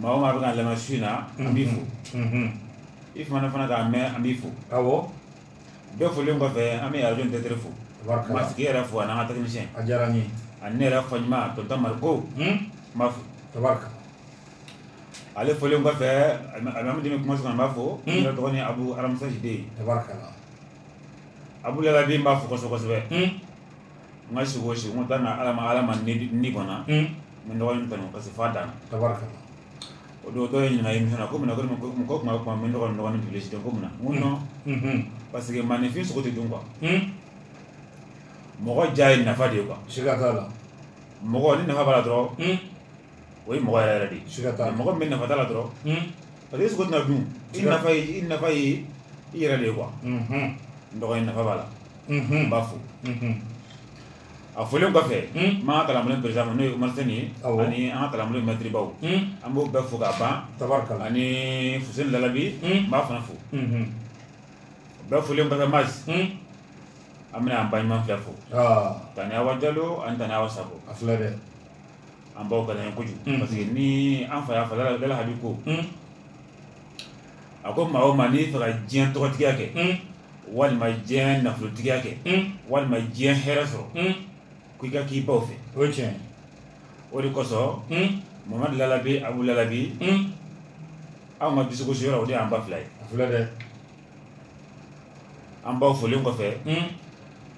Maa o maa bɛ k'an lamɛn su in na an b'i fo i fana fana k'a mɛn an b'i fo bɛɛ folilen kɔfɛ an bɛ arajo tɛtɛ fo tigi yɛrɛ fo a n'an ka technicien a diyara n ye a ne yɛrɛ fa ɲuman to damari ko n b'a fo ale folilen kɔfɛ amadu kuma sɔrɔ an b'a fo dɔgɔnin abu aramusajide abu lalabi n b'a fo kosɛbɛ kosɛbɛ n ka siko si n taa na ala ala ma ni kɔnɔ n dɔgɔnin kɔnɔ parce que fa dan o don dɔ ye ɲininka émission na ko mun na ko mɔgɔ tuma kuma min dɔgɔnin dɔgɔnin tun si ko mun na mun nɔ parce que maaninfin sogo tɛ dun quoi mɔgɔ diya ye nafa de ye quoi mɔgɔ ni nafa b'a la dɔrɔn o ye mɔgɔ yɛrɛ de mɔgɔ bɛ nafa la dɔrɔn parce que sogo na dun i nafa i nafa ye i yɛrɛ de ye quoi n dɔgɔnin nafa b'a la n b'a fo a folilen kɔfɛ n ma kala perez ma n'o ye ma ye ani an kalan mɛtiribaw an b'o bɛɛ fo ka ban tabarika ani fuseyini lalabi n b'a fana fo bɛɛ folilen kɔfɛ ma an bɛna an ba ɲuman fila fo tanti awa jalo ani tanti awa sago a filɛ dɛ an baw ka di an ye kojugu parce que ni an fa y'a fɔ lalahabi ko a ko maa o maa n'i b'a fɛ ka diɲɛ tɔgɔtigiya kɛ walima diɲɛ nafolotigiya kɛ walima diɲɛ hɛrɛ sɔrɔ ko i ka k'i baw fɛ o tiɲɛ o de kosɔn mamadu lalabi abu lalabi anw ka dusugosi yɔrɔ o de y'an ba fila ye a filɛ dɛ an baw folilen kɔfɛ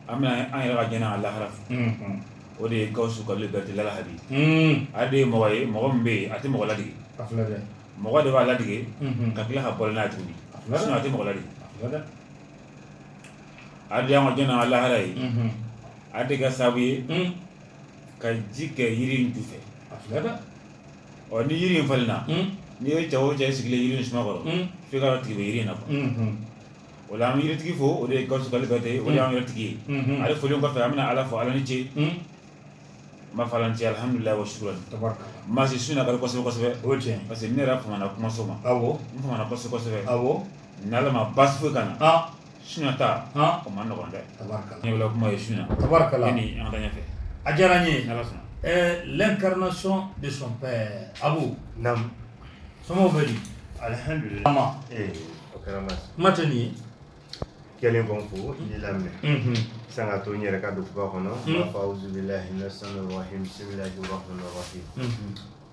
an bɛna an yɛrɛ ka jiɲɛ n'a lahara fo o de ye Gawusu Kalilu Bɛrɛte lalahabi ale de ye mɔgɔ ye mɔgɔ min bɛ yen a tɛ mɔgɔ latigɛ mɔgɔ de b'a latigɛ ka tila ka bɔ n'a tuguni a tɛ mɔgɔ latigɛ a de y'an ka jiɲɛ n'a lahara ye a de kɛra sababu ye ka ji kɛ yiri ju fɛ ɔ ni jiri in falenna n'i ye cɛ o cɛ sigilen jiri in suma kɔrɔ f'i k'a dɔn tigi bɛ jiri in na o la an bɛ yiritigi fo o de ye Gawusu Kalilu Bɛrɛte ye o de y'an yɛrɛ tigi ye ale folen kɔfɛ an bɛna Ala fo Ala ni ce n b'a fɔ Ala ni ce alihamudulilayi wa sukurahi tabarikala n ma se su in na ka di kosɛbɛ kosɛbɛ o ye tiɲɛ ye parce que ne yɛrɛ famana kumaso ma awɔ n famana kosɛbɛ kosɛbɛ awɔ n'Ala ma baasi foyi k'an na sunjatata o ma nɔgɔ dɛ ɲa kuma ye sunjata an ka ɲɛfɛ a diyara n ye lɛnkarana sɔn de sɔn a sɔn bɛ alidu kuma tɛ nin ye kɛlen kɔn fo i lamɛn san ka to n yɛrɛ ka don fug kɔnɔ fa bisimila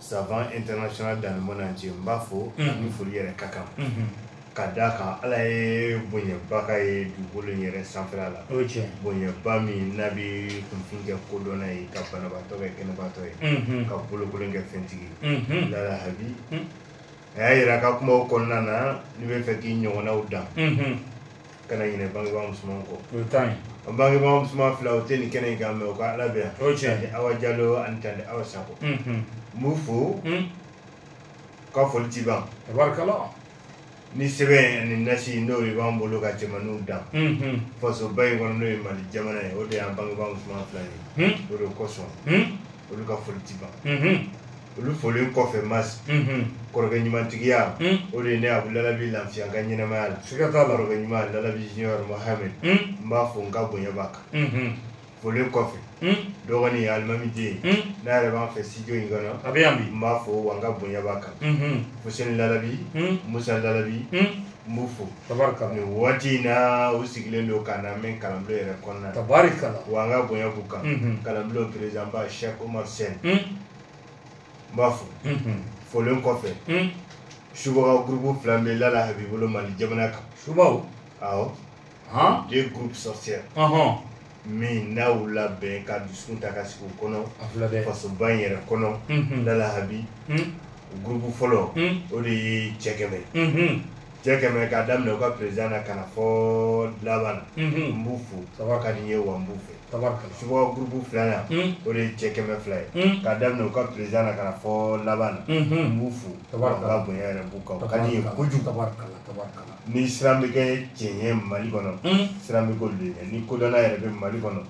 savant international dans le monde entier n b'a fo ani foli yɛrɛ ka kan ka d'a kan ala ye bonyabaga ye dugukolo in yɛrɛ sanfɛla la o cɛ bonyaba min n'a bɛ kunfin kɛ kodɔnna ye ka banabaatɔ kɛ kɛnɛbaatɔ ye ka bolokolon kɛ fɛntigi ye lala habi a y'a yira ka kumaw kɔnɔna na n'i b'a fɛ k'i ɲɔgɔnnaw dan kana ɲinɛ bangebaa musoman kɔ o ye tan ye an bangebaa musoman fila o tɛ nin kɛnɛ in kan mais u ka ala bɛ yan o ye tiɲɛ Tante awa jalo ani tante awa sako ye n b'u fo u ka foli ti ban tabarikala ni sɛbɛn ani nasi n'o de b'an bolo ka cɛmaninw dan fasoba in kɔnɔ n'o ye mali jamana ye o de y'an bangebaa musoman fila ye o de kosɔn olu ka foli tɛ ban olu folen kɔfɛ masi kɔrɔkɛ ɲumantigiya o de ye ne abu lalabi lafiya n ka ɲɛnamaya la siga t'a la kɔrɔkɛ ɲuman lalabi junior mohamed n b'a fo n ka bonya b'a kan folen kɔfɛ dɔgɔnin alimami den n'a yɛrɛ b'an fɛ studio in kɔnɔ a bɛ yan bi n b'a fo wa n ka bonya b'a kan fuseni lalabi musa lalabi n b'u fo tabarikala nin waati in na u sigilen don k'an lamɛn kalanbulon yɛrɛ kɔnɔna na tabarikala wa n ka bonya b'u kan Mhm. kalanbulon président ba Cheikh Omar Sène Mm, n b'a fo mhm, folen kɔfɛ mm. subaga groupe fila bɛ Lala Habi bolo Mali jamana kan subaw awɔ han deux groupes sorcières ɔhɔn min n'a y'u labɛn ka dusukun ta ka sigi u kɔnɔ A filɛ dɛ. fasoba in yɛrɛ kɔnɔ Unhun. lalahabi Un. o gurupu fɔlɔ Un. o de ye cɛ kɛmɛ Unhun. cɛ kɛmɛ k'a daminɛ u ka président na ka na fɔ laban na n Unhun. b'u fo Tabarikala. ka di n ye wa n b'u fɛ Tabarikala. subaga gurupu filanan Un. o de ye cɛ kɛmɛ fila ye Un. k'a daminɛ u ka président na ka na fɔ laban na n Unhun. b'u fo Tabarikala. ka bonya yɛrɛ b'u kan o ka di n ye Tabarikala. kojugu Tabarikala. Tabarikala. ni siran bɛ kɛ cɛ ɲɛ mali kɔnɔ siran bɛ k'olu de ɲɛ ni kodɔnna yɛrɛ bɛ mali kɔnɔ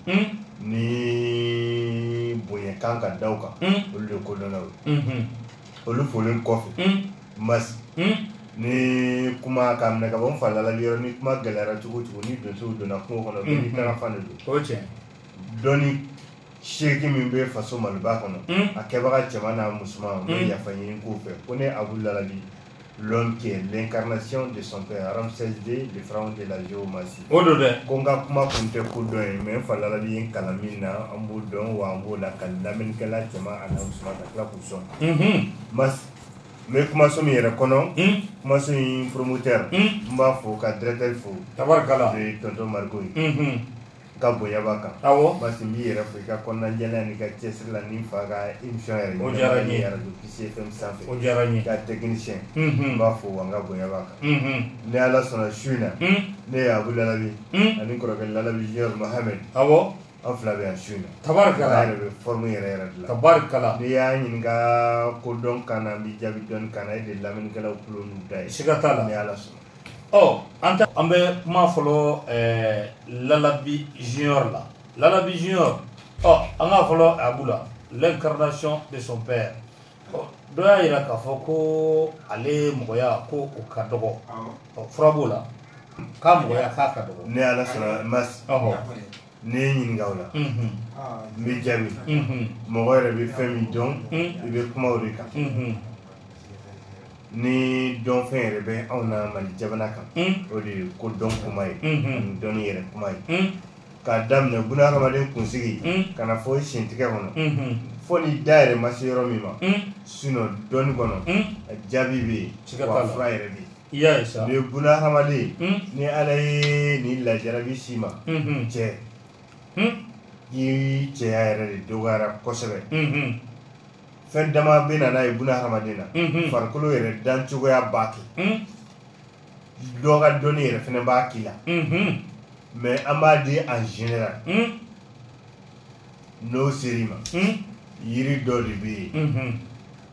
ni bonya kan ka da u kan olu de kodɔnnaw ye olu folen kɔfɛ masi ni kuma ka minɛ ka bɔ n fa lalabi yɔrɔ ni kuma gɛlɛyara cogo cogo ni donsow donna kungo kɔnɔ bɛɛ n'i taara fan de don dɔnni seki min bɛ faso maliba kɔnɔ a kɛbaga cɛman n'a musoman n bɛ yafa ɲini k'u fɛ ko ne abu lalabi l'homme qui est l'incarnation de son père Ramsès II le pharaon de la géomancie o don dɛ ko n ka kuma kun tɛ kodɔn ye mais n fa lalabi ye n kalan min na an b'o dɔn wa an b'o lakali lamɛnnikɛla cɛman an'a musoman ka tila k'u sɔn Mhm. masi n bɛ kumaso min yɛrɛ kɔnɔ Hmm. kumaso in promoteur Hmm. n b'a fo ka directeur fo tabarikala o ye tonton mariko ye Mhm. ka bonya b'a kan awɔ masi n b'i yɛrɛ fo i ka kɔnɔnajɛlenya n'i ka cɛsiri la ni n fa ka émission yɛrɛ O diyara n ye. radio Kisi FM sanfɛ o diyara n ye ka technicien n unhun b'a fo wa n ka bonya b'a kan unhun ni ala sɔnna su in na un ne ye abu lalabi un ani kɔrɔkɛ lalabi junior mohamed awɔ an fila bɛ yan su in na ala tabarikala yɛrɛ bɛ forme yɛrɛ yɛrɛ de la tabarikala n'i y'a ɲininka ko dɔn kan na n b'i jaabi dɔnni kan na e de ye lamɛnnikɛlaw tulo n'u da ye siga t'a la ni ala sɔnna ɔ an ta an bɛ kuma fɔlɔ ɛɛ lalabi junior la lalabi junior ɔ an k'a fɔlɔ abu la l'incarnation de son père ɔ dɔ y'a jira k'a fɔ ko ale mɔgɔya ko o ka dɔgɔ ɔ fura b'o la k'a mɔgɔya k'a ka dɔgɔ ni ala sɔnna masi ɔhɔ n'i ye n ɲininka o la n b'i jaabi mɔgɔ yɛrɛ bɛ fɛn min dɔn i bɛ kuma o de kan ni dɔnfɛn yɛrɛ bɛ anw na mali jamana kan o de ye ko dɔn kuma ye ani dɔn yɛrɛ kuma ye k'a daminɛ buna hadamaden kunsigi ka na fo i sentigɛ kɔnɔ fo ni da yɛrɛ ma se yɔrɔ min ma sinon dɔnni kɔnɔ jaabi bɛ yen fura yɛrɛ bɛ yen I y'a ye sa. Nin ye buna hadamaden ye. Un. Ni Ala ye nin lajarabi s'i ma. Unhun. Cɛ. Un. I cɛya yɛrɛ de dɔgɔyara kosɛbɛ. Unhun. Fɛn dama bɛ na n'a ye buna hadamaden na. Unhun. Farikolo yɛrɛ dan cogoya b'a kɛ. Un. Dɔ ka dɔnni yɛrɛ fɛnɛ b'a k'i la. Unhun. Mais an b'a di en général. Un. N'o ser'i ma. Un. Yiri dɔ de bɛ yen. Unhun.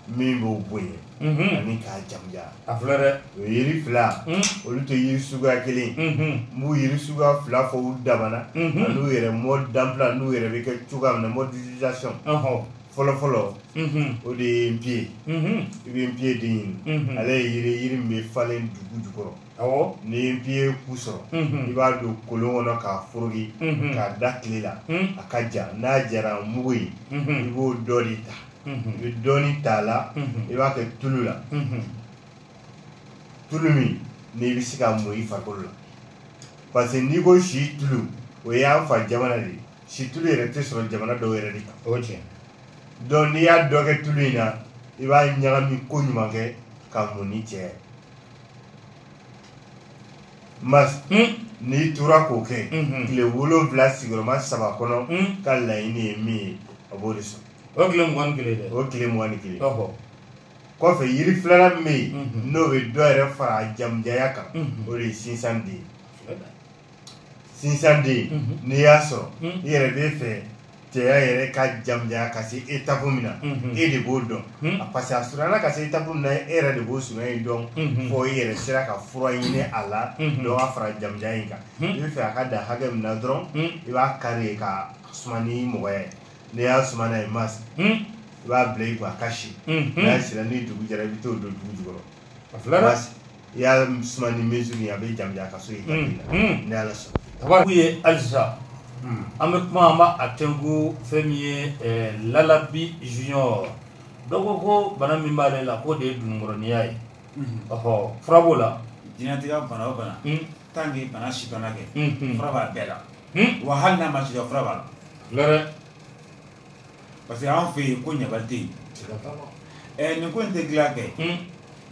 min b'o bonya ani k'a jamuja a fila dɛ o yiri fila olu tɛ yiri suguya kelen n b'o yiri suguya fila fɔ u damana n'u yɛrɛ mode d'emploi n'u yɛrɛ bɛ kɛ cogoya min na mode d'utilisation fɔlɔfɔlɔ o de ye npiye i bɛ npiye de ɲini ale ye yiri yiri min bɛ falen dugu jukɔrɔ n'i ye npiye ku sɔrɔ i b'a don kolon kɔnɔ k'a foroki k'a da tile la a ka ja n'a jara mugu ye i b'o dɔ de ta i bɛ dɔɔnin t'a la i b'a kɛ tulu la tulu min n'i bɛ se ka mun i farikolo la parce que n'i ko si tulu o y'an fa jamana de ye si tulu yɛrɛ tɛ sɔrɔ jamana dɔw yɛrɛ de kan o tiɲɛ donc n'i y'a dɔ kɛ tulu in na i b'a ɲagami ko ɲuman kɛ ka mun i cɛya Masi n'i tora k'o kɛ tile wolowula sigiyɔrɔma saba kɔnɔ ka laɲini ye min ye a b'o de sɔrɔ o o tile mugan ni kelen kɔfɛ yiri filanan min bɛ yen n'o bɛ dɔ yɛrɛ fara a jamujaya kan o de ye sinsanden ye sinsan den mhm. n'i y'a sɔrɔ mhm. i yɛrɛ bɛ fɛ cɛya yɛrɛ ka jamujanya ka se etapu min na mhm. e de b'o dɔn parce que a surunya ka se etapu min na e yɛrɛ de b'o surunya in dɔn fo i yɛrɛ sera ka fura ɲini a la dɔ ka fara jamujanya in kan i bɛ fɛ a ka dan hakɛ min na dɔrɔn i b'a kari ka suma ni mɔgɔya ye n'i y'a suma n'a ye masi i b'a bila i kun a ka si n'a sira ni dugu jɛra i bɛ t'o don dugu jukɔrɔ a filanan i y'a suma ni mesure ye a bɛ jamujanya ka se yen ni ala sɔnna tababu ye halisa an bɛ kuma an b'a a tɛnku fɛn min ye lalabi junior dɔ ko ko bana min b'ale la k'o de ye dununkɔrɔninya ye ɔhɔ fura b'o la diɲɛlatigɛ bana o bana tant que bana si dɔnna kɛ fura b'a bɛɛ la wa hali n'a ma si dɔn fura b'a la Parce que an fɛ yen ko ɲabali tɛ yen, siga t'a la, ɛ nin ko in tɛ dilan kɛ, un,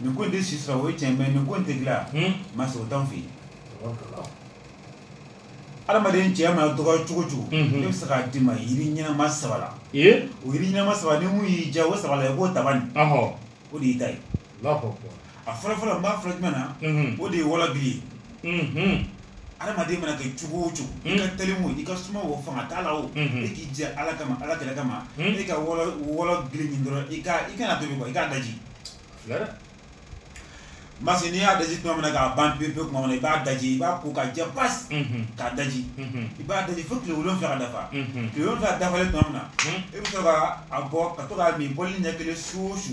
nin ko in tɛ si sɔrɔ o ye tiɲɛ ye mais nin ko in tɛ dilan, un, Masi o t'an fɛ yen, tabarikala, adamaden cɛya mana dɔgɔya cogo o cogo, unhun, ne bɛ se k'a d'i ma yiri ɲɛnama saba la, ee, o yiri ɲɛnama saba ni min y'i diya o saba la i b'o ta bani, ɔhɔ, o de y'i ta ye a fɔlɔ fɔlɔ n b'a fɔlɔ jumɛn na o de ye wɔlɔbili ye adamaden mana kɛ cogo o cogo i ka teli o i ka suma o fanga t'a la o e k'i jɛ ala kama ala kɛlɛ kama e ka wɔlɔbili ɲini dɔrɔn i kan'a tobi i k'a daji masi n'i y'a daji tuma min k'a ban pewu tuma i b'a daji i b'a ko k'a jɛ pasi k'a daji i b'a daji fo tile wolon wolonwula dafa tile wolonwula dafalen tuma min na e bɛ sɔrɔ k'a bɔ ka to k'a min bɔli ɲɛ kelen su o su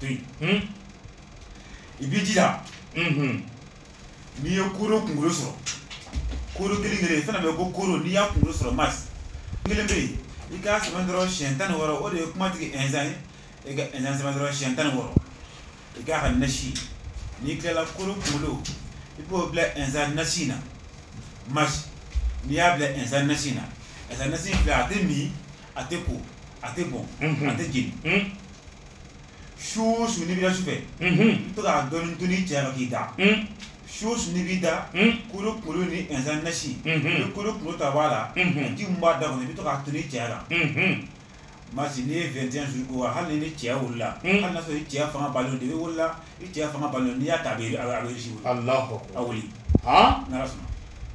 to yen i b'i jija n'i ye koro kunkolo sɔrɔ koro kelen kelen i fana bɛ ko koro n'i y'a kunkolo sɔrɔ masi kelen bɛ yen i k'a sɛbɛn dɔrɔn siyɛn tan ni wɔɔrɔ o de ye kumatigi ɛnsan ye e ka ɛnsan sɛbɛn dɔrɔn siyɛn tan ni wɔɔrɔ i k'a kɛ nasi n'i tilala koro kunkolo i b'o bila ɛnsan nasi na masi n'i y'a bila ɛnsan nasi na ɛnsan nasi filɛ a tɛ min a tɛ ko a tɛ bɔn a tɛ jeni su o su n'i b'i da su fɛ i bɛ to k'a dɔɔnin ton'i cɛ ma k'i da su o su n'i b'i da koro kunkolo ni ɛnzan nasi i bɛ koro kunkolo ta bɔ a la ji min b'a da kɔnɔ i bɛ to k'a ton'i cɛ la masi n'i ye 21 jours ko wa hali ni cɛ wulila hali n'a sɔrɔ i cɛ fanga balo de i wulila i cɛ fanga balo n'i y'a ta a bɛ a bɛ se ka wuli n'ala sɔnna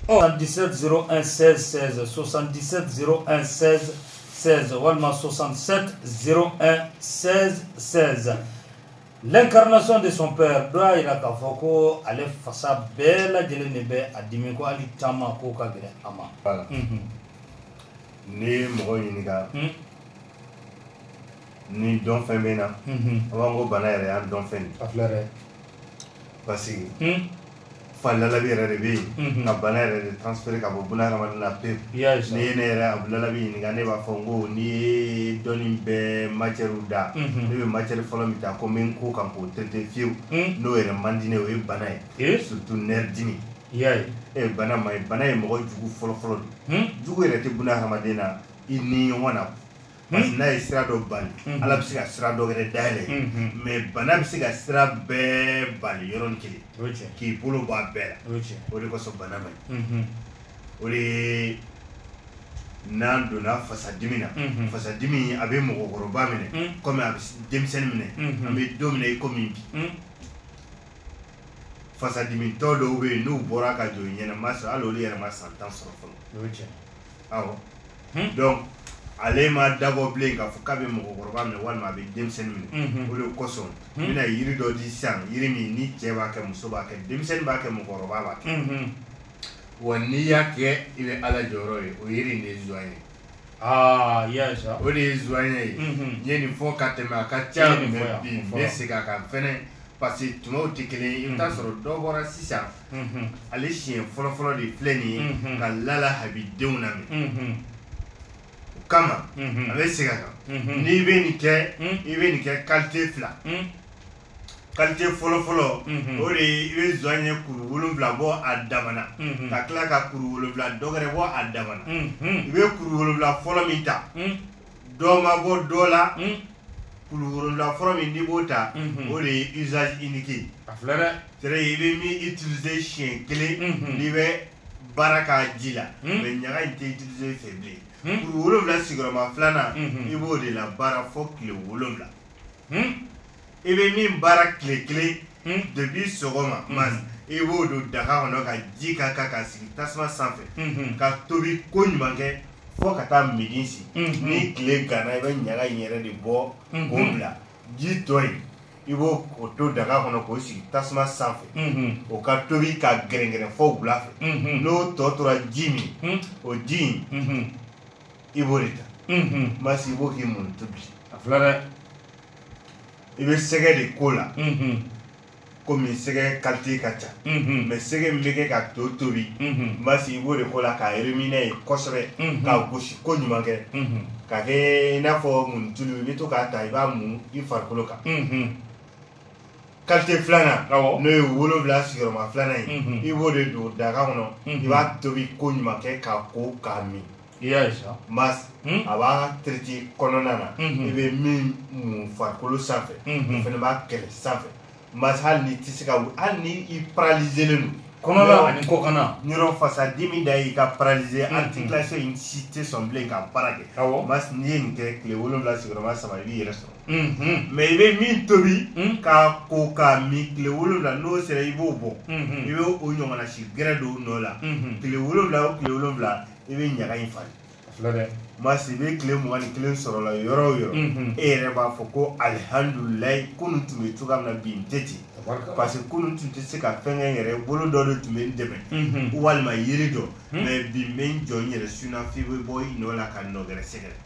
77 01 16 16 77 01 16 seize walima soixante-sept zéro un seize seize l'incarnation de son père dɔ y'a jira k'a fɔ ko ale fasa bɛɛ lajɛlen de bɛ a dimi ko hali taama k'o ka gɛlɛn a ma n'i ye mɔgɔ ɲininka ni dɔn fɛn bɛ na an b'an ko bana yɛrɛ y'an dɔn fɛn de parce que fa Lalabi yɛrɛ de bɛ yen ka bana yɛrɛ de transférer ka bɔ buna hadamaden na pewu n'i ye ne yɛrɛ Lalabi ɲininka ne b'a fɔ n ko n'i ye dɔnni bɛɛ matière da ne bɛ matière fɔlɔ min ta ko n bɛ n ko kan k'o traiter fiyewu n'o yɛrɛ man di ne ye o ye bana ye surtout nerfs dimi i y'a ye e bana man ɲi bana ye mɔgɔ jugu fɔlɔ-fɔlɔ de ye jugu yɛrɛ tɛ buna hadamaden na i ni ɲɔgɔn na parce que n'a ye sira dɔ bali ala bɛ se ka sira dɔ wɛrɛ dayɛlɛ mais bana bɛ se ka sira bɛɛ bali yɔrɔnin kelen o ye tiɲɛ k'i bolo bɔ a bɛɛ o ye tiɲɛ la o de kosɔn bana man ɲi o de ye n'an donna fasadimi na Mhm. fasadimi a bɛ mɔgɔkɔrɔba minɛ Mm. komi a bɛ s- denmisɛnnin minɛ Mhm. an bɛ don min na i komi bi Mhm. fasadimitɔ dɔw bɛ yen n'u bɔra ka jɔ i ɲɛ na Masi hali olu yɛrɛ ma san tan sɔrɔ fɔlɔ o ye tiɲɛ donc ale ma dabɔ bilen k'a fɔ k'a bɛ mɔgɔkɔrɔba minɛ walima a bɛ denmisɛnnin minɛ o de kosɔn n bɛna yiri dɔ di sisan yiri min ni cɛ b'a kɛ muso b'a kɛ denmisɛnnin b'a kɛ mɔgɔkɔrɔba b'a kɛ wa n'i y'a kɛ i bɛ ala jɔyɔrɔ ye o yiri nin de ye zɔɲɛ ye Ah, yes. O de ye zɔɲɛ ye. N ye nin fɔ ka tɛmɛ a ka ca bi n bɛ segin a kan fɛnɛ parce que tumaw tɛ kelen ye i bɛ taa sɔrɔ dɔ bɔra sisan ale siɲɛ fɔlɔfɔlɔ de filɛ nin ye ka Lala Habi denw lamɛn o kama a bɛ segin a kan n'i bɛ nin kɛ i bɛ nin kɛ kalite fila kalite fɔlɔfɔlɔ o de i bɛ zɔɲɛ kuru wolonwula bɔ a damana ka tila ka kuru wolonwula dɔ wɛrɛ bɔ a damana i bɛ kuru wolonwula fɔlɔ min ta dɔ ma bɔ dɔ la hmm. kuru wolonwula fɔlɔ min n'i b'o ta hmm. o de ye usage unique a filɛ dɛ c'est-à-dire i bɛ min utiliser siɲɛ kelen hmm. n'i bɛ baara k'a ji la mais ɲaga in tɛ utiliser fɛ bilen kuru wolonwula sigiyɔrɔma filanan i b'o de labaara fo tile wolonwula i bɛ min baara tile kelen depuis sɔgɔma Masi i b'o don daga kɔnɔ ka ji k'a kan ka sigi tasuma sanfɛ ka tobi ko ɲuman kɛ fo ka taa midi se ni tile ganna i bɛ ɲaga in yɛrɛ de bɔ k'o bila ji tɔ in i b'o to daga kɔnɔ k'o sigi tasuma sanfɛ o ka tobi ka gɛrɛngɛrɛn fo wula fɛ n'o tɔ tora ji min o ji in i b'o de ta Masi i b'o k'i mun tobi a filɛ dɛ i bɛ sɛgɛ de k'o la komi sɛgɛ kalite ka ca mais sɛgɛ min bɛ kɛ ka to tobi Masi i b'o de k'o la k'a remuer kosɛbɛ k'a gosi ko ɲuman kɛ ka kɛ i n'a fɔ muntulu i bɛ to k'a ta i b'a mun i farikolo kan kalite filanan n'o ye wolowula sigiyɔrɔma filanan ye mhm. i b'o de don daga kɔnɔ mhm. i b'a tobi ko ɲuman kɛ k'a ko k'a min mas hmm? a b'a traité kɔnɔna na mhm. i bɛ min mun farikolo sanfɛ o fana b'a kɛlɛ sanfɛ mas hali n'i tɛ se ka hali ni i paralyselen don kɔnɔna ani kɔkana yɔrɔ fasa dimi de y'i ka paralysé articulation in si tɛ sɔn bilen ka baara kɛ mas n'i ye nin kɛ tile wolonwula sigiyɔrɔma saba i b'i yɛrɛ sɔrɔ mais i bɛ min tobi k'a ko k'a min tile wolowula n'o sera i b'o bɔ i bɛ o ɲɔgɔnna si gɛrɛ don nɔ la tile wolowula o tile wolowula i bɛ ɲaga in falen mas i bɛ tile mugan ni kelen sɔrɔ la yɔrɔ o yɔrɔ e yɛrɛ b'a fɔ ko alihamdulilayi kunun tun bɛ cogoya min na bi n tɛ ten parce que kunun tun tɛ se ka fɛn kɛ n yɛrɛ bolo dɔ de tun bɛ n dɛmɛ walima yiri dɔ mais bi n bɛ n jɔ n yɛrɛ sen na f'i bɛ bɔ i nɔ la ka nɔ wɛrɛ sɛgɛrɛ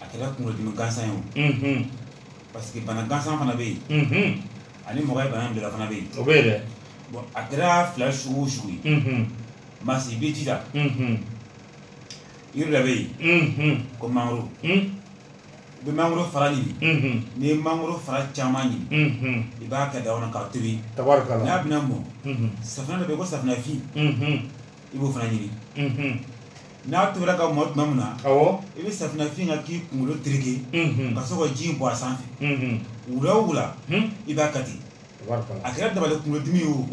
a kɛra kunkolodimi gansan ye o parce que bana gansan fana bɛ yen ani mɔgɔ ye bana bila fana bɛ yen o bɛ yen dɛ bon a kɛra fila sugu o sugu ye mas i bɛ jija yiri dɔ bɛ yen ko mangoro i bɛ mangoro fara ɲini n'i ye mangoro fara caman ɲini i b'a kɛ daga kɔnɔ k'a tobi tabarikala n'a bɛna mɔ safunɛ dɔ bɛ yen ko safunɛfin i b'o fana ɲini n'a tobira ka mɔ tuma min na i bɛ safinɛfin kɛ k'i kunkolo tereke ka sɔrɔ ka ji bɔn a sanfɛ wula o wula i b'a kati a kɛra dabali kunkolodimi ye o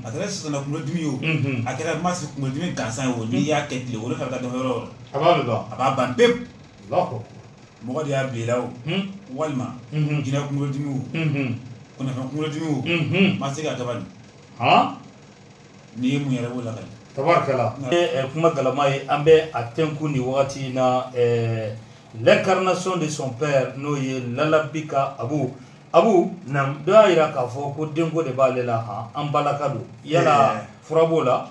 a kɛra sisana kunkolodimi ye o a kɛra masi kunkolodimi gansan ye o n'i y'a kɛ tile wolonwula ka dɔgɔ yɔrɔ yɔrɔ a b'a ban pewu mɔgɔ de y'a bila i la o walima jinɛ kunkolodimi o kɔnɔfɛn kunkolodimi o ma se ka dabali N'i ye mun yɛrɛ b'o la tabarikala kuma galama ye an bɛ a tɛnku ni wagati in na l'incarnation de son père n'o ye Lalabi ka Abu Abu dɔ y'a jira k'a fɔ ko denko de b'ale la h an balaka don yala fura b'o la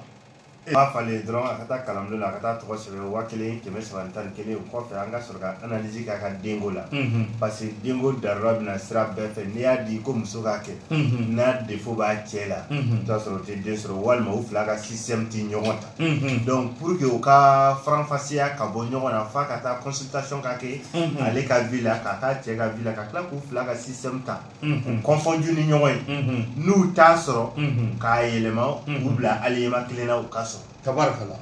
e b'a falen dɔrɔn ka taa kalan la ka taa tɔgɔ sɛbɛn waa ni kɛmɛ saba tan ni kelen o kɔfɛ ka analyse kɛ a ka denko la, unhun, parce que denko darura bɛ na sira bɛɛ fɛ n'i y'a di ko muso k'a kɛ, unhun, n'a défaut b'a cɛ la, unhun, i bɛ t'a sɔrɔ o tɛ den sɔrɔ walima u fila ka système tɛ ɲɔgɔn ta, unhun, donc pour que o ka faranfasiya ka bɔ ɲɔgɔn na f'a ka taa consultation ka kɛ, unhun, ale ka vie la ka t'a cɛ ka vie la ka tila k'u fila ka système ta, unhun, confondu ni ɲɔgɔn ye, unhun, n'u t'a sɔrɔ, unhun, k'a yɛlɛma, unhun, k'u bila alignement kelen na u ka sɔrɔ. Tabarikala.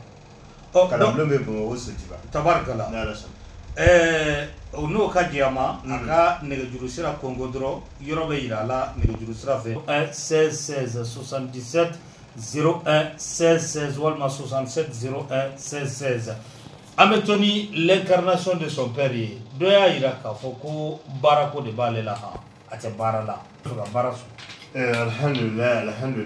Ɔ ka bulon bɛ Bamakɔ Sotuba tabarikala ɛɛ o n'o ka diya ma a ka nɛgɛjuru sira kɔnkɔn dɔrɔn yɔrɔ bɛ jira a la nɛgɛjuru sira fɛ 77 01 16 16 walima 67 01 16 16 an bɛ to ni l'incarnation de son père ye dɔ y'a jira k'a fɔ ko baara ko de b'ale la h a tɛ baara la a ka baara sɔrɔ alhamdu alhamdu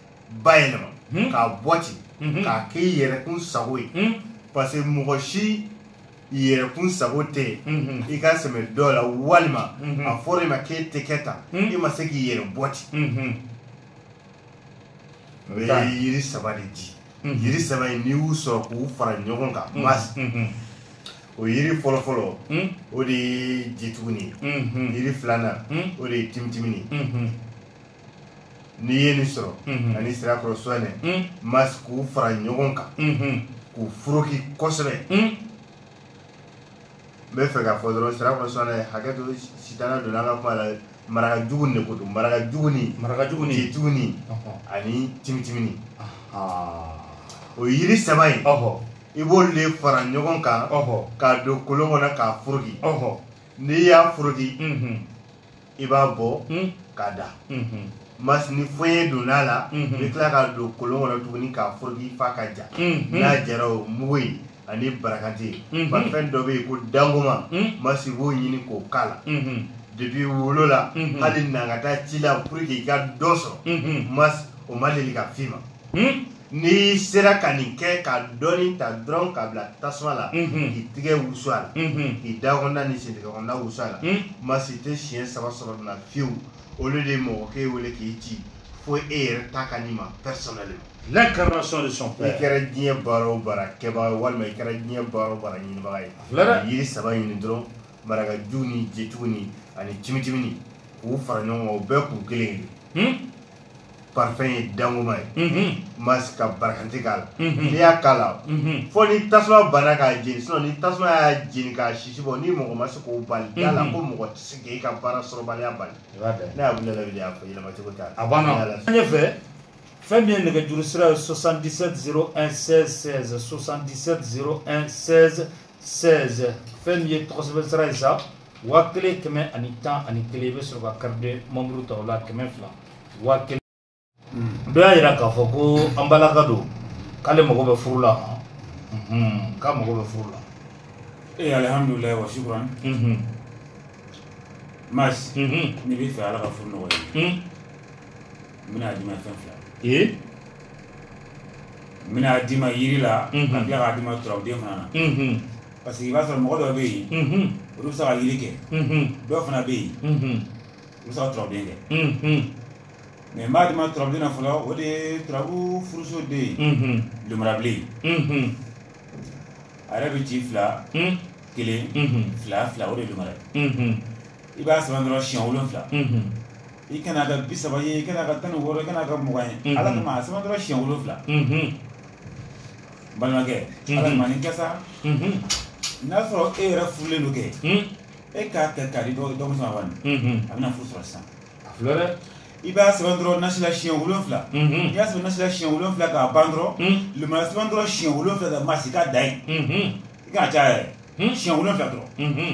bayɛlɛma hmm. k'a bɔ ten hmm. k'a kɛ i yɛrɛkun sago ye hmm. parce que mɔgɔ si yɛrɛkun sago tɛ yen i ka sɛmɛ dɔ la walima a fɔra i ma k'e tɛ kɛ tan i ma se k'i yɛrɛ bɔ ten o ye yiri saba de di yiri saba in n'i y'u sɔrɔ k'u fara ɲɔgɔn kan mas o yiri fɔlɔfɔlɔ o de ye jituguni ye yiri filanan o de ye timitimini n'i ye nin sɔrɔ mhm. ani sirakɔrɔ suwanɛ mhm. mas k'u fara ɲɔgɔn kan mhm. k'u foroki kosɛbɛ n bɛ fɛ k'a fɔ dɔrɔn sirakɔrɔ suwanɛ hakɛ to sitana donna an ka kuma la marakajugu de ko don marakajuguni marakajuguni jituguni ani timitimini o yiri saba in i b'olu de fara ɲɔgɔn kan k'a don kolon kɔnɔ k'a foroki n'i y'a foroki i b'a bɔ hmm. k'a da hmm, hmm. mas ni foye donna a la i bɛ tila k'a don kolon kɔnɔ tuguni k'a foroki f'a ka ja n'a jara o mugu in ani barakanti parfum dɔ bɛ yen ko dangoma mas i b'o ɲini k'o k'a la depuis wolola hali na ka taa ci la pour que i ka dɔ sɔrɔ mas o ma deli ka f'i ma n'i sera ka nin kɛ ka dɔɔni ta dɔrɔn k'a bila tasuma la k'i tigɛ wusu a la k'i da kɔnɔna ni sentigɛ kɔnɔna wusu a la mas i tɛ siɲɛ saba sɔrɔ nin na fiyewu au lieu de mɔgɔ k'e wele k'i ci fo e yɛrɛ ta ka n'i ma personnellement l'incarnation de son père i kɛra diɲɛ baara o baara kɛbaga ye walima i kɛra diɲɛ baara o baara ɲinibaga ye yiri saba ɲini dɔrɔn marakajuguni jituguni ani timitimini k'u fara ɲɔgɔn kan u bɛɛ k'u kelen ye parfum ye dangoma ye mas i ka barakanti k'a la n'i y'a k'a la fo ni tasuma banna k'a jeni sinon ni tasuma y'a jeni k'a sisi bɔ ni mɔgɔ ma se k'o bali da a la ko mɔgɔ tɛ se k'e ka baara sɔrɔbaliya bali ne y'a wuli lawuli y'a fɔ yɛlɛma cogo t'a la a banna ɲɛfɛ fɛn min ye nɛgɛjuru sira ye 77 01 16 16 77 01 16 16 fɛn min ye tɔgɔsɛbɛn sira ye sa waa kelen kɛmɛ ani tan ani kelen i bɛ sɔrɔ ka carte membre ta o la kɛmɛ fila waa kelen dɔ y'a yira k'a fɔ ko an balimakɛ don k'ale mago bɛ furu la mhm, k'a mago bɛ furu la ee alihamudulila wa sukuran mhm, masi mhm, n'i bɛ fɛ ala ka furu nɔgɔya i ye, mhm. n bɛna d'i ma fɛn fila ee n bɛna d'i ma yiri la Mhm. ka tila k'a d'i ma turabuden fana na mhm, parce que i b'a sɔrɔ mɔgɔ dɔ bɛ yen olu bɛ se ka yiri kɛ dɔw fana bɛ yen olu bɛ se ka turabuden kɛ mais n b'a di ma turabuden na fɔlɔ o de ye turabu furuso de ye lumurabilen a yɛrɛ bɛ ci fila kelen fila fila o de ye lumara ye i b'a sɛbɛn dɔrɔn siɲɛ wolonfila i kana ka bi saba ye i kana ka tan ni wɔɔrɔ i kana ka mugan ye ala kama a sɛbɛn dɔrɔn siɲɛ wolonfila balimakɛ Mhm. ala kama nin kɛ sa Mhm. n'a sɔrɔ e yɛrɛ furulen don kɛ Mhm. e k'a kɛ k'a di dɔ dɔ muso ma bani Mhm. a bɛna furu sɔrɔ sisan a filɛ dɛ i b'a sɛbɛn dɔrɔn nasi la siɲɛ wolonfila Mhm. n'i y'a sɛbɛn nasi la siɲɛ wolonfila k'a ban dɔrɔn Mhm. lumara sɛbɛn dɔrɔn siɲɛ wolonfila ka masi k'a da yen Mhm. i kana caya yɛrɛ Mhm. siɲɛ wolonfila dɔrɔn Mhm.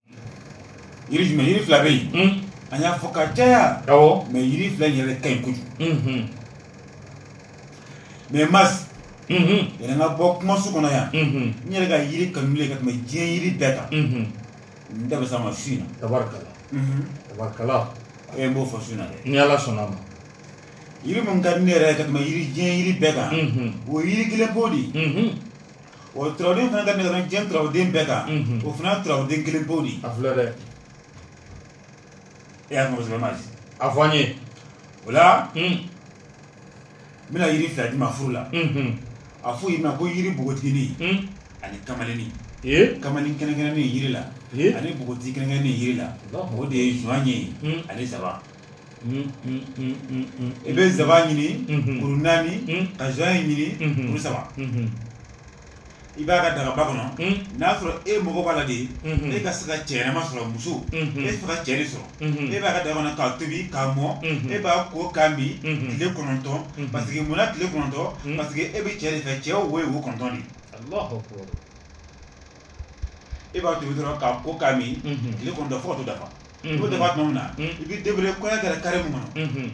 yiri jumɛn yiri fila bɛ yen mm. an y'a fɔ ka caya awɔ mais yiri fila in yɛrɛ ka ɲi kojugu mm-hmm. mais mas mm-hmm. yanni n ka bɔ kumaso kɔnɔ yan mm-hmm. n yɛrɛ ka yiri kanulen ka tɛmɛ diɲɛ yiri bɛɛ kan n da bɛ s'a ma su in na tabarikala tabarikala e n b'o fɔ su in na dɛ ni ala sɔnna ma yiri min ka di ne yɛrɛ ye ka tɛmɛ yiri diɲɛ yiri bɛɛ kan o ye yiri kelen po de ye o turabuden fana ka di ne ka tɛmɛ diɲɛ turabuden bɛɛ kan o fana turabuden kelen po de ye a filɛ dɛ e y'a mɔgɔ ma a fɔ an ye o la n bɛna yiri fila di ma furu la a fɔ yiri ma ko yiri npogotigini ani kamalenni kamalen kɛrɛnkɛrɛnnen yiri la ani npogotigi kɛrɛnkɛrɛnnen yiri la o de ye zɔɲɛ ye ani nsaban i bɛ nsaban ɲini kuru naani ka zɔɲɛ ɲini kuru saba i b'a ka dagaba kɔnɔ n'a sɔrɔ e mago b'a la de e ka se ka cɛ ɲɛnama sɔrɔ muso e bɛ se ka cɛ de sɔrɔ e b'a ka dagaba kɔnɔ k'a tobi k'a mɔ e b'a ko k'a min tile kɔnɔntɔn parce que munna tile kɔnɔntɔn parce que e bɛ cɛ de fɛ cɛ wo ye wo kɔnɔntɔn de ye e b'a tobi dɔrɔn k'a ko k'a min tile kɔnɔntɔn fo ka t'o dafa o dafa tuma min na i bɛ débrouiller kɔɲɔ kɛra carré min kɔnɔ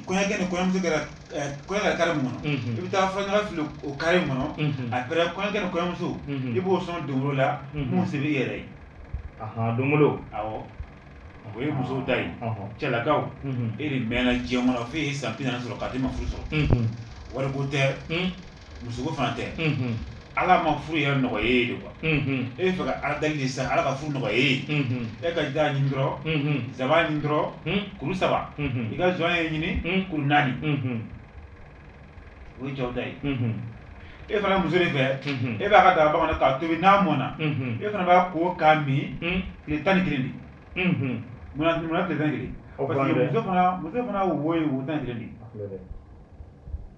kɔɲɔkɛ ni kɔɲɔmuso kɛra carré min kɔnɔ i bɛ taa furaɲaga fili o carré in kɔnɔ après kɔɲɔkɛ ni kɔɲɔmuso i b'o sɔn don o la min se bɛ i yɛrɛ ye don o ye musow ta ye cɛlakaw e de mɛnna diɲɛ kɔnɔ f'e ye san bi naani sɔrɔ k'a t'i ma furu sɔrɔ wari ko tɛ musoko fana tɛ ala ma furu yɛrɛ nɔgɔya ye de quoi e bɛ fɛ ka ala deli sisan ala ka furu nɔgɔya ye e ka da ɲini dɔrɔn zaban ɲini dɔrɔn kuru saba i ka zɔɲɛ ɲini kuru naani o ye cɛw ta ye e fana muso de fɛ e b'a ka daga bamanan k'a tobi n'a mɔnna e fana b'a ko k'a min tile tan ni kelen de munna tile tan kelen parce que muso fana muso fana wo ye wo tan ni kelen de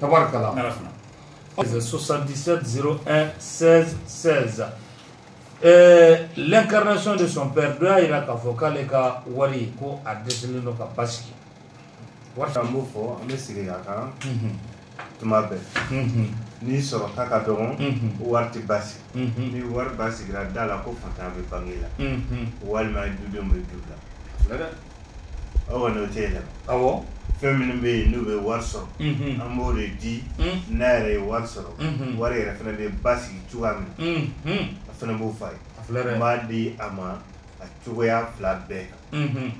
tabarakala soixante-dix-sept zéro un seize seize l'incarnation de son père dɔ y'a jira k'a fɔ k'ale ka wari ko a dɛsɛlen don ka basigi wari an b'o fɔ an bɛ segin a kan tuma bɛɛ n'i sɔrɔta ka dɔgɔn wari tɛ basigi ni wari basigira da la ko faantan bɛ bange la walima dudenw bɛ du la Aw kɔni o tɛ yɛlɛma, awɔ, fɛn minnu bɛ yen n'u bɛ wari sɔrɔ, unhun, an b'o de di, unhun, n'a yɛrɛ ye wari sɔrɔ, unhun, wari yɛrɛ fɛnɛ bɛ basigi cogoya min na, unhun, a fɛnɛ b'o fɔ a ye, a filɛ dɛ, n b'a di a ma a cogoya fila bɛɛ kan, unhun,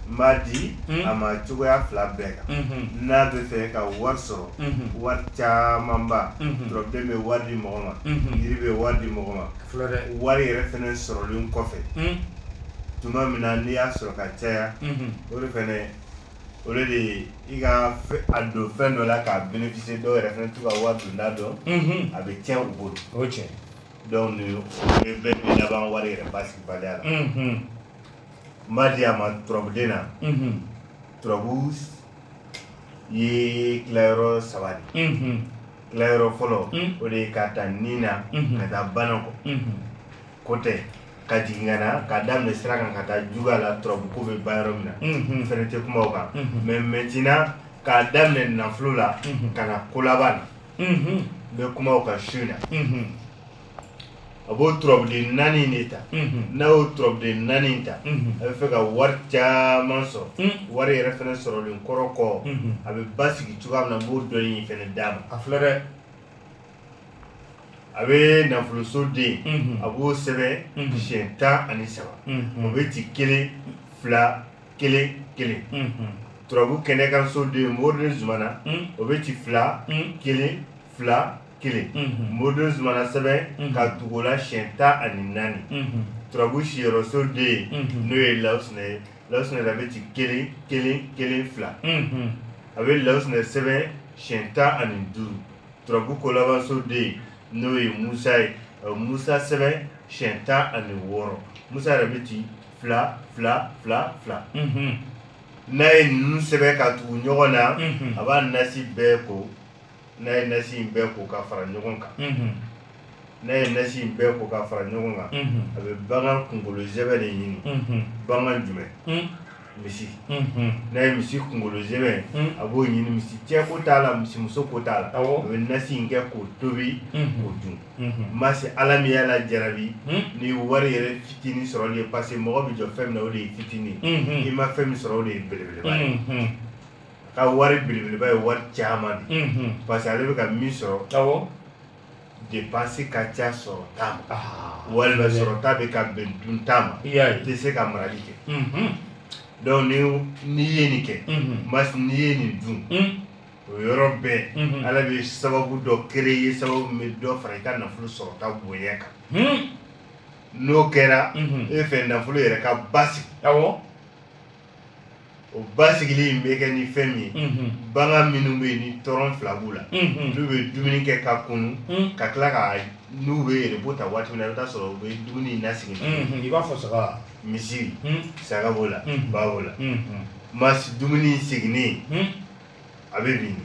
n b'a di a ma a cogoya fila bɛɛ kan, unhun, n'a bɛ fɛ ka wari sɔrɔ, unhun, wari camanba, unhun, turabuden bɛ wari di mɔgɔ ma, unhun, jiri bɛ wari di mɔgɔ ma, a filɛ dɛ, wari yɛrɛ fɛnɛ sɔrɔlen kɔfɛ, un tuma min na n'i y'a sɔrɔ ka caya o de fɛnɛ o de ye i ka a don fɛn dɔ la k'a bénéficier dɔw yɛrɛ fɛnɛ t'u ka wari donda dɔn a bɛ tiɲɛ u bolo o ye tiɲɛ donc nin bɛɛ bɛ laban wari yɛrɛ basigibaliya la n b'a di a ma turabuden na turabu ye tilayɔrɔ saba de ye tilayɔrɔ fɔlɔ o de ye k'a ta ni na ka taa bana kɔ ko tɛ ka jigin ka na k'a daminɛ sira kan ka taa jugu la turabu ko bɛ ban yɔrɔ min na n fɛnɛ tɛ kuma o kan mais maintenant k'a daminɛ nafolo la ka na kolaban na n bɛ kuma o kan su in na a b'o turabuden naani de ta n'a y'o turabuden naani ta a bɛ fɛ ka wari caman sɔrɔ wari yɛrɛ fɛnɛ sɔrɔlen kɔrɔ kɔ a bɛ basigi cogoya min na n b'o dɔ in fɛnɛ d'a ma a filɛ dɛ a bɛ nafoloso den a b'o sɛbɛn siɲɛ tan ani saba o bɛ ci kelen fila kelen kelen turabu kɛnɛkanso den moriden zumana o bɛ ci fila kelen fila kelen moriden zumana sɛbɛn ka tugu o la siɲɛ tan ani naani turabu siyɔrɔso den n'o ye lawusinɛ ye lawusinɛ a bɛ ci kelen kelen kelen fila a bɛ lawusinɛ sɛbɛn siɲɛ tan ani duuru turabu kolabanso den n'o ye musa ye musa sɛbɛn siyɛn tan ani wɔɔrɔ musa yɛrɛ bɛ ci fila fila fila fila n'a ye ninnu sɛbɛn ka tugu ɲɔgɔn na a b'a nasi bɛɛ ko n'a ye nasi in bɛɛ ko ka fara ɲɔgɔn kan n'a ye nasi in bɛɛ ko k'a fara ɲɔgɔn kan unhun a bɛ bagan kunkolo zɛmɛ de ɲini unhun bagan jumɛn un misi unhun n'a ye misi kunkolo zɛmɛ un a b'o ɲini misi cɛ ko t'a la misi muso ko t'a la awɔ a bɛ nasi in kɛ k'o tobi k'o unhun dun unhun masi ala min y'a la jarabi un ni wari yɛrɛ fitinin sɔrɔli ye parce que mɔgɔ bɛ jɔ fɛn min na o de ye fitinin ye unhun i ma fɛn min sɔrɔ o de ye belebeleba ye unhun a ka wari belebeleba ye wari caman de ye unhun parce que ale bɛ ka min sɔrɔ awɔ dépense ka ca sɔrɔta ma walima sɔrɔta bɛ ka bɛn dunta ma i tɛ se ka marali kɛ donc ni n'i ye nin kɛ mas n'i ye nin dun o yɔrɔ bɛɛ ala bɛ sababu dɔ créer sababu bɛ dɔ fara i ka nafolo sɔrɔta bonya kan n'o kɛra e fɛ nafolo yɛrɛ ka basigi o basigili in bɛ kɛ ni fɛn min ye bagan minnu bɛ yen ni tɔrɔn fila b'u la n'u bɛ dumuni kɛ ka kunun ka tila ka n'u bɛ repos ta waati min na i bɛ t'a sɔrɔ u bɛ dumuni in nasegin i b'a fɔ saga misi saga b'o la ba b'o la mas dumuni seginnen a bɛ bin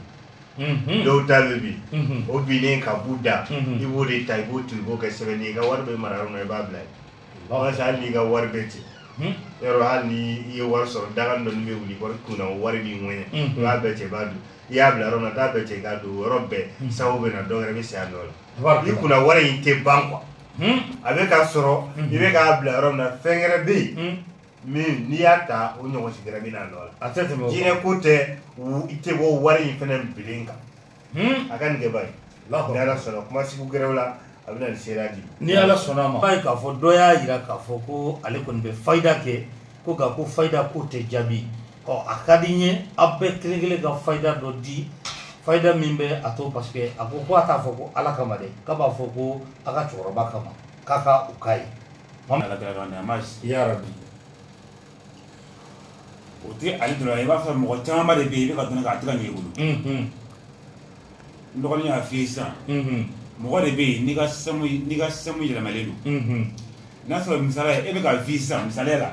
dɔw ta bɛ bin o binnen ka b'u da i b'o de ta i b'o to i b'o kɛ sɛbɛn ye i ka wari bɛ mara yɔrɔ i b'a bila yen parce que hali n'i ka wari bɛ ten hmm? yɔrɔ hali ni i ye wari sɔrɔ daga dɔ bɛ wuli wari kunna o wari b'i ŋɛɲɛ hmm. i b'a bɛɛ cɛ i b'a dun i y'a bila yɔrɔ min na t'a bɛɛ cɛ i k'a dun o yɔrɔ bɛɛ hmm. sababu bɛ na dɔ wɛrɛ bɛ se a nɔ la i kunna wari in tɛ ban quoi a bɛ ka sɔrɔ i bɛ k'a bila yɔrɔ min na fɛn wɛrɛ bɛ yen min n'i y'a ta o ɲɔgɔn sigira min na nɔ la a tɛ tɛmɛ jinɛ ko tɛ i tɛ bɔ wari in fana bilen kan a ka nin kɛ bani ni Ala sɔnna kuma sugu gɛrɛw la a bɛ na ni seereya di ni Ala sɔnna ma i b'a ye k'a fɔ dɔ y'a jira k'a fɔ ko ale kɔni bɛ fayida kɛ ko nka ko fayida ko tɛ jaabi ɔ a ka di n ye aw bɛɛ kelen kelen ka fayida dɔ di fayida min bɛ a to parce que a ko ko a t'a fɔ ko Ala kama dɛ k'a b'a fɔ ko a ka cɛkɔrɔba kama k'a ka u k'a ye. O tɛ ale dɔrɔn i b'a sɔrɔ mɔgɔ caman de bɛ yen i bɛ k'a dɔn k'a tɛ ka ɲɛ i bolo n dɔgɔnin y'a fɔ sisan mɔgɔ de bɛ yen n'i ka sɛmu yɛlɛmalen don n'a sɔrɔ misali e bɛ ka vivre sisan misali la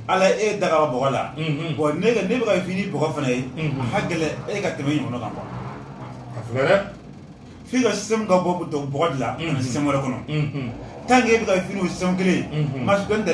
ala y'e da bɔgɔ la n'e bɛ ka vivre ni bɔgɔ fana ye a ka gɛlɛn e ka tɛmɛ ɲɔgɔn kan quoi f'i ka sɛmu ka bɔ bɔgɔ de la ka na sɛmu wɛrɛ kɔnɔ tant que e bɛ ka vivre ni sɛmu kelen ma tɛ dɛ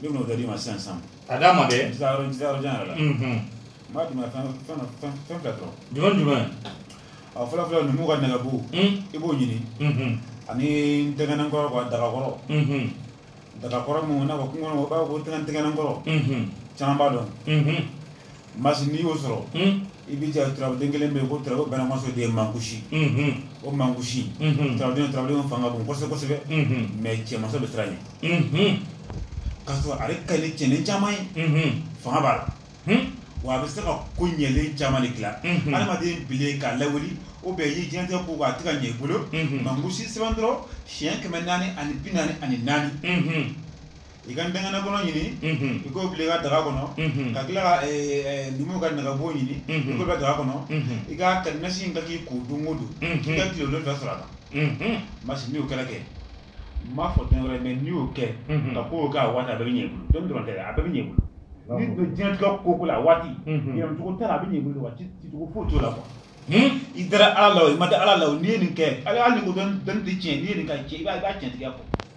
Ne bɛn'o dɔ d'i ma sisan sisan. K'a d'a ma kɛ. N tɛ taa yɔrɔ jan yɛrɛ la. Unhun. N b'a d'i ma fɛn fɛn dɔ fɛn fɛn fila dɔrɔn. Jumɛn ni jumɛn? Ɔ fɔlɔ fɔlɔ numuw ka nɛgɛbo. Un! I b'o ɲini. Unhun. Ani ntɛgɛnɛ kɔrɔ quoi daga kɔrɔ. Unhun. Daga kɔrɔ mun i n'a fɔ kungo kɔnɔ u b'a fɔ ko tɛgɛnɛ tɛgɛnɛ kɔrɔ. Unhun. Caman b'a dɔn. Unhun. Masi n'i y'o sɔrɔ i bɛ ja turabuden kelen bɛ yen ko turabuden bɛɛ masa o de ye mankusi o mankusi turabuden fanga bon kosɛbɛ kosɛbɛ mais cɛnmasaw bɛ siran a ɲɛ k'a sɔrɔ ale ka ɲi ni cɛnden caman ye fanga b'a la wa a bɛ se ka ko ɲɛlen caman de dilan adamaden binnen k'a lawuli ou bien i ye diɲɛlatigɛ ko a tɛ ka ɲɛ i bolo mankusi sɛbɛn dɔrɔn siɲɛ kɛmɛ naani ani bi naani ani naani i ka ntɛgɛnɛ kɔrɔ ɲini i k'o bila i ka daga kɔnɔ ka tila ka numuw ka nɛgɛbo ɲini i k'o bila daga kɔnɔ i ka nasi in kɛ k'i ko don o don i ka tile wolonwula sɔrɔ a kan masi n'i y'o kɛra kɛ n m'a fɔ fɛn wɛrɛ mais n'i y'o kɛ ka k'o kɛ a waati a bɛɛ bɛ ɲɛ i bolo dɔnni dɔrɔn tɛ dɛ a bɛɛ bɛ ɲɛ i bolo n'i don diɲɛlatigɛ ko o ko la a waati yɛlɛmacogo t'a la a bɛ ɲɛ i bolo wa cicogo foyi t'o la quoi i dara ala la o i ma da ala la o n'i ye nin kɛ hali n'i ko dɔnni tɛ tiɲɛ n'i ye nin ka tiɲɛ i b'a tiɲɛ tigɛ kɔ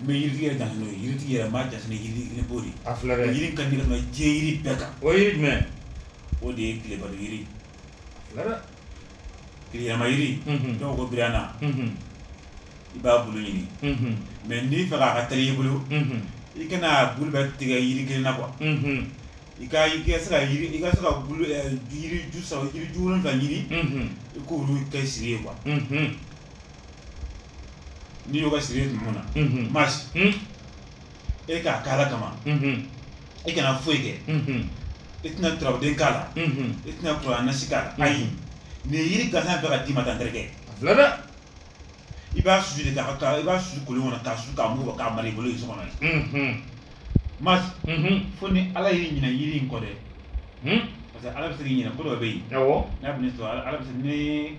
n bɛ yiritigi yɛrɛ janto n'o ye yiritigi yɛrɛ n b'a janto ni yiri yiriba de ye a filɛ dɛ yiri ka di ka tɛmɛ diɲɛ yiri bɛɛ kan o ye yiri jumɛn o de ye tilebato yiri filɛ dɛ tileyɛlɛma yiri Mhm. dɔw ko birana Mhm. i b'a bulu ɲini Mhm. mais n'i fɛ k'a ka teli i bolo Mhm. i kana a bulu bɛɛ tigɛ yiri kelen na quoi Mhm. i ka i ka se ka yiri i ka se ka bulu ɛ, yiri ju saba yiri ju wolonwula ɲini Mhm. i k'olu kɛ siri ye quoi Mhm. n'i y'o kɛ siri ye tuma min na masi e k'a kɛ Ala kama e kana foyi kɛ i tɛna turabuden k'a la i tɛna kuranɛ nasi k'a la ayi nin yiri gansan bɛ ka d'i ma tan terikɛ a filɛ dɛ i b'a susu de k'a ka i b'a susu kolon kɔnɔ k'a susu k'a mugu bɔ k'a mara i bolo i so kɔnɔ yen masi fo ni Ala y'i ɲinɛ yiri in kɔ dɛ parce que Ala bɛ se k'i ɲinɛ ko dɔ bɛ yen n'a bɛ ne sɔrɔ Ala bɛ se ni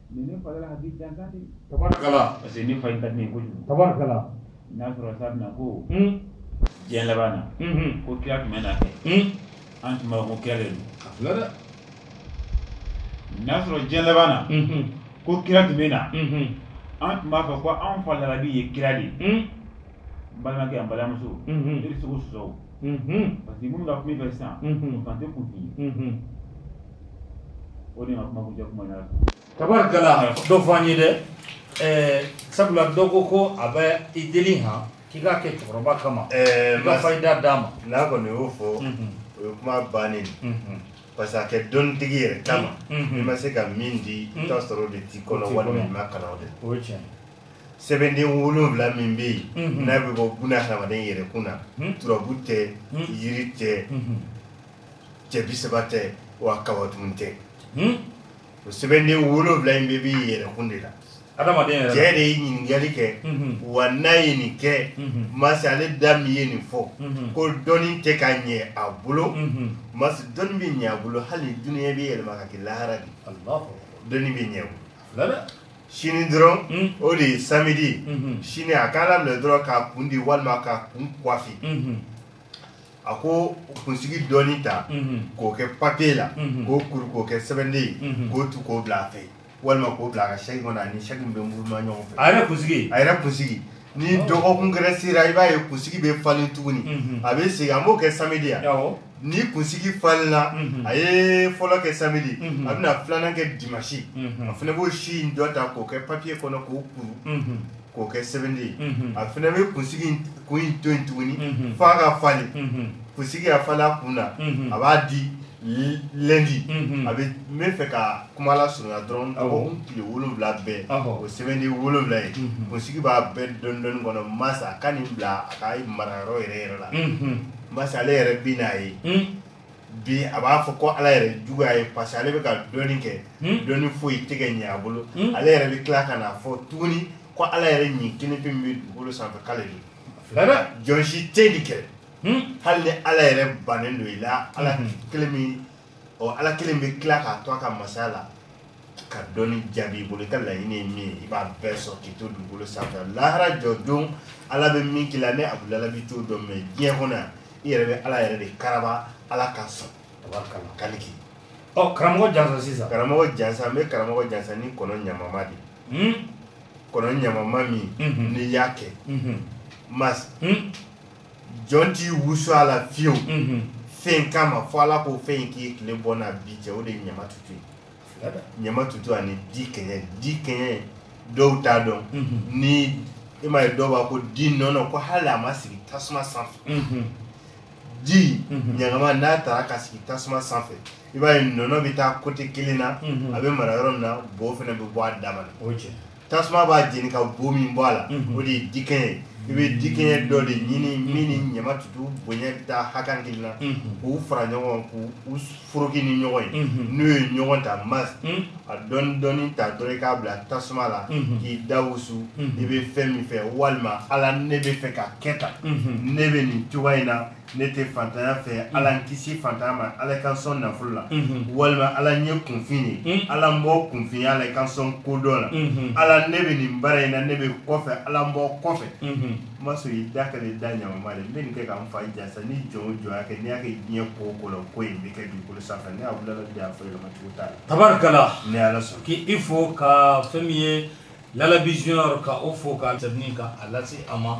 Ni fa ka di jan di parce que ni fa ka di kojugu ta n'a sɔrɔ sa na ko diɲɛ laban na ko kira tun bɛ na kɛ an tun b'a fɔ kira de don dɛ n'a sɔrɔ diɲɛ laban na ko kira tun bɛ na an tun b'a fɔ ko an fa Lalabi ye kira de ye balimakɛ an balimamuso i tɛ se k'o sɔsɔ parce que minnu ka kuma fɛ sisan o kan tɛ kun f'i ye o de ma kuma kuncɛ kuma yɛrɛ tabarikala dɔ fɔ an ye dɛ ɛɛ sabula dɔ ko ko a bɛ i deli han k'i k'a kɛ cɛkɔrɔba kama i ka fayida d'a ma n'a kɔni y'o fɔ o ye kuma bannen parce que a kɛ dɔnnitigi yɛrɛ kama n'i ma se ka min di i t'a sɔrɔ o de t'i kɔnɔ walima i ma kalan o de la o ye tiɲɛ ye sɛbɛnden wolonwula min bɛ yen mhm. n'a bɛ bɔ buna hadamaden yɛrɛ kun na mhm. turabu tɛ mhm. yiri tɛ cɛ bi saba tɛ wa kawatumu tɛ o sɛbɛnden wolonwula in bɛɛ b'i yɛrɛ kun de la adamaden cɛ de ye ɲininkali kɛ wa n'a ye nin kɛ masi ale da min ye nin fɔ ko dɔnni tɛ ka ɲɛ a bolo masi dɔnni bɛ ɲɛ a bolo hali dunuya bɛ yɛlɛma ka kɛ lahara de dɔnni bɛ ɲɛ o sini dɔrɔn hmm. o de ye samedi hmm. sini a k'a labɛn dɔrɔn k'a kun di walima k'a kun kwafi hmm. a k'o kunsigi dɔɔni ta k'o kɛ papiye la k'o kuru k'o kɛ sɛbɛnden ye k'o tu k'o bila a fɛ walima k'o bila a ka sɛki kɔnɔ ani sɛki min bɛ muruma ɲɔgɔn fɛ a yɛrɛ kunsigi a yɛrɛ kunsigi ni dɔgɔkun gɛrɛ sera i b'a ye kunsigi bɛ falen tuguni mhm. a bɛ segin an b'o kɛ samedi ya ni kunsigi falenna mhm. a ye fɔlɔ kɛ samedi mhm. a bɛna filanan kɛ dimanche a fana b'o si in dɔ ta k'o kɛ papiye kɔnɔ k'o kuru k'o kɛ sɛbɛnden ye a fana bɛ kunsigi kun in to yen tuguni f'a ka falen kunsigi a falen a kun na a b'a di lundi a bɛ n bɛ fɛ ka kuma lasurunya dɔrɔn tile wolowula bɛɛ o sɛbɛnden wolowula ye kunsigi b'a bɛɛ dɔɔni dɔɔni kɔnɔ mas a ka nin bila a ka marayɔrɔ yɛrɛ yɛrɛ la mas ale yɛrɛ bɛn'a ye bi a b'a fɔ ko ala yɛrɛ juguya ye parce que ale bɛ ka dɔnni kɛ dɔnni foyi tɛ ka ɲɛ a bolo ale yɛrɛ bɛ tila ka n'a fɔ tuguni ko ala yɛrɛ ɲin kelen pe min bɛ dugukolo sanfɛ k'ale don jɔn si tɛ nin kɛ hali ni ala yɛrɛ bannen don i la ala hmm. kelen min ɔ ala kelen bɛ tila k'a to a ka masaya la ka dɔnni jaabi i bolo i ka laɲini ye min ye i b'a bɛɛ sɔrɔ k'i to dugukolo sanfɛ lahara jɔ don ala bɛ min k'i la ne abudulayi b'i t'o dɔn mɛ diɲɛ kɔnɔ yan i yɛrɛ bɛ ala yɛrɛ de karaba ala ka sɔn kali k'i ɔ karamɔgɔ jansa sisan karamɔgɔ jansa n bɛ karamɔgɔ jansa ni kɔnɔ ɲanama de hmm? kɔnɔ ɲanama min hmm. n'i y'a kɛ mas jɔn t'i wusu a la fiyewu mhm. fɛn kama fo ala k'o fɛn in k'i tile bɔ n'a bin cɛ o de ye ɲama tutu ye ɲama tutu ani dikɛɲɛ dikɛɲɛ dɔw t'a dɔn mhm. ni i m'a ye dɔw b'a ko di nɔnɔ ko hali a ma sigi tasuma sanfɛ mhm. di ɲagama n'a taara ka sigi tasuma sanfɛ i b'a ye nɔnɔ bɛ taa kote kelen na a bɛ mara yɔrɔ min na bo fana bɛ bɔ a dama na tasuma b'a jeni ka bo min bɔ a la mhm. o de ye dikɛɲɛ ye i bɛ dikɛɲɛ dɔ de ɲini mhm. min ni ɲama tutu bonya bɛ taa hakan kelen na mhm. k'u fara ɲɔgɔn k'u foroki ni ɲɔgɔn ye n'u ye ɲɔgɔn ta mas a dɔɔni dɔɔni ta dɔrɔn i k'a bila tasuma la k'i da wusu i bɛ fɛn min fɛ walima ala ne bɛ fɛ ka kɛ tan ne bɛ nin cogoya in na ne tɛ fantanya fɛ mm. ala n kisi fantanya ma ala i ka n sɔn nafolo la mm-hmm. walima ala n ye kunfin ye mm. ala n bɔ kunfinya la i ka n sɔn kodɔn la mm-hmm. ala ne bɛ nin baara in na ne bɛ kɔfɛ ala n bɔ kɔfɛ mm-hmm. n ma sɔn i da ka ne da ɲamama de n bɛ nin kɛ ka n fa jansa ni jɔn o jɔn y'a kɛ n'i y'a kɛ diɲɛ ko o ko la ko in bɛ kɛ dugukolo sanfɛ ne abudulayi de y'a fɔ yɛlɛma cogo t'a la tabarikala ne ala sɔn k'i fo ka fɛn min ye lalabi junior ka o fo ka tɛmɛni ka a lase a ma